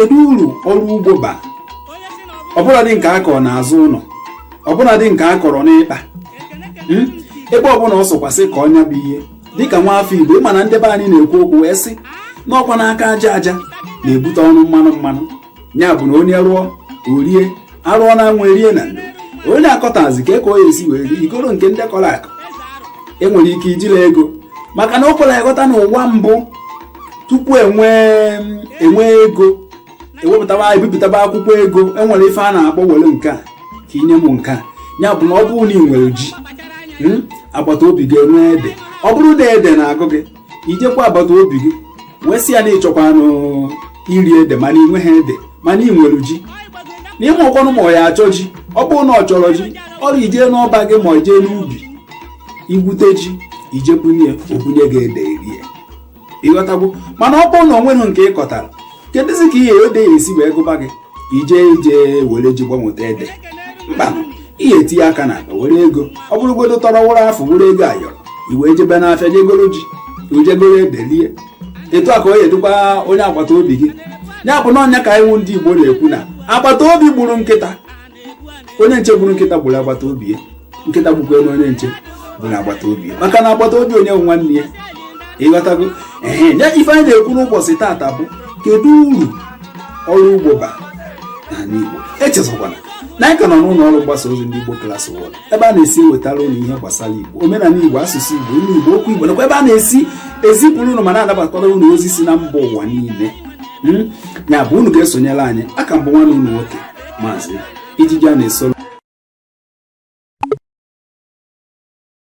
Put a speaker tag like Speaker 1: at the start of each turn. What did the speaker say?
Speaker 1: kedu uru ọrụ ugbo ba ọbụladị nke a kọrọ n'azụ ụlọ ọbụladị nke a kọrọ n'ikpa hmm? ebe ọbụla ọ sọkwasị ka ọ nya bụ ihe dịka nwa afọ igbo ịma na ndị be anyị na-ekwu okwu wee sị na ọkwanụ aka aja aja na-ebute ọnụ mmanụ mmanụ ya bụ na onye rụọ o rie a rụọ n'anwụ e rie na ndo onye akọtazi kee ka ọ ya esi wee rie i goro nke ndị kọrọ akọ enwere ike ijila ego maka na o kwere aghọta n'ụwa mbụ tupu enwee enwee ego ewepụtaba ebipụtaba akwụkwọ ego enwere ife a na-akpọ were nke a ka i nye m nke a ya bụ na ọ bụrụ na ị nwere ji hmm, agbata obi gị enwee ede ọ bụrụ na ede na-agụ gị i jekwu agbata obi gị wee sị ya na ịchọkwanụ iri ede mana ị nweghị ede mana ị nwere ji na ị marọkwanụ ma ọ ya achọ ji ọ bụrụ na ọ chọrọ ji ọrụ ijee n'ọba gị ma ijee n'ubi igwute ji ije bunye o bunye gị ede i rie ịghọtagwo mana ọ bụrụ na o nweghị nke ị kọtara kedụzi ka ihe ede ya esi wee gụba gị ije ije were ji gbanweta ede mba ị ya etinye aka n'akpa were ego ọ bụrụgodo tọrọ wụrụ afụ wụrụ ego ayọrọ i wee jebe n'afịa jegoro ji i jegoro ede lie etu a ka ọ ya-adịkwa onye agbata obi gị ya bụ na ọ nya ka ị nụ ndị Igbo na-ekwu na agbata obi gburu nkịta onye nche gburu nkịta gburu agbata obi ya nkịta gbukwalụ onye nche gburu agbata obi ya maka na agbata obi onye bụ nwanne ya ịghọtago ehe ya ife anyị na-ekwu n'ụbọchị taata bụ kedu uru ọrụ ugbo ba n'ala Igbo echezọkwana na anyị ka nọ n'ụlọ ọrụ mgbasa ozi ndị Igbo Class World ebe a na-esi ewetara unu ihe gbasara Igbo omenala Igbo asụsụ Igbo ilu Igbo okwu Igbo nakwa ebe a na-esi ezipụrụ unu ma na-anabatara unu ozi si na mba ụwa niile hmm? ya bụ unu ga-esonyere anyị a ka m bụ nwanne unu nwoke maazị ijiji a na-esoro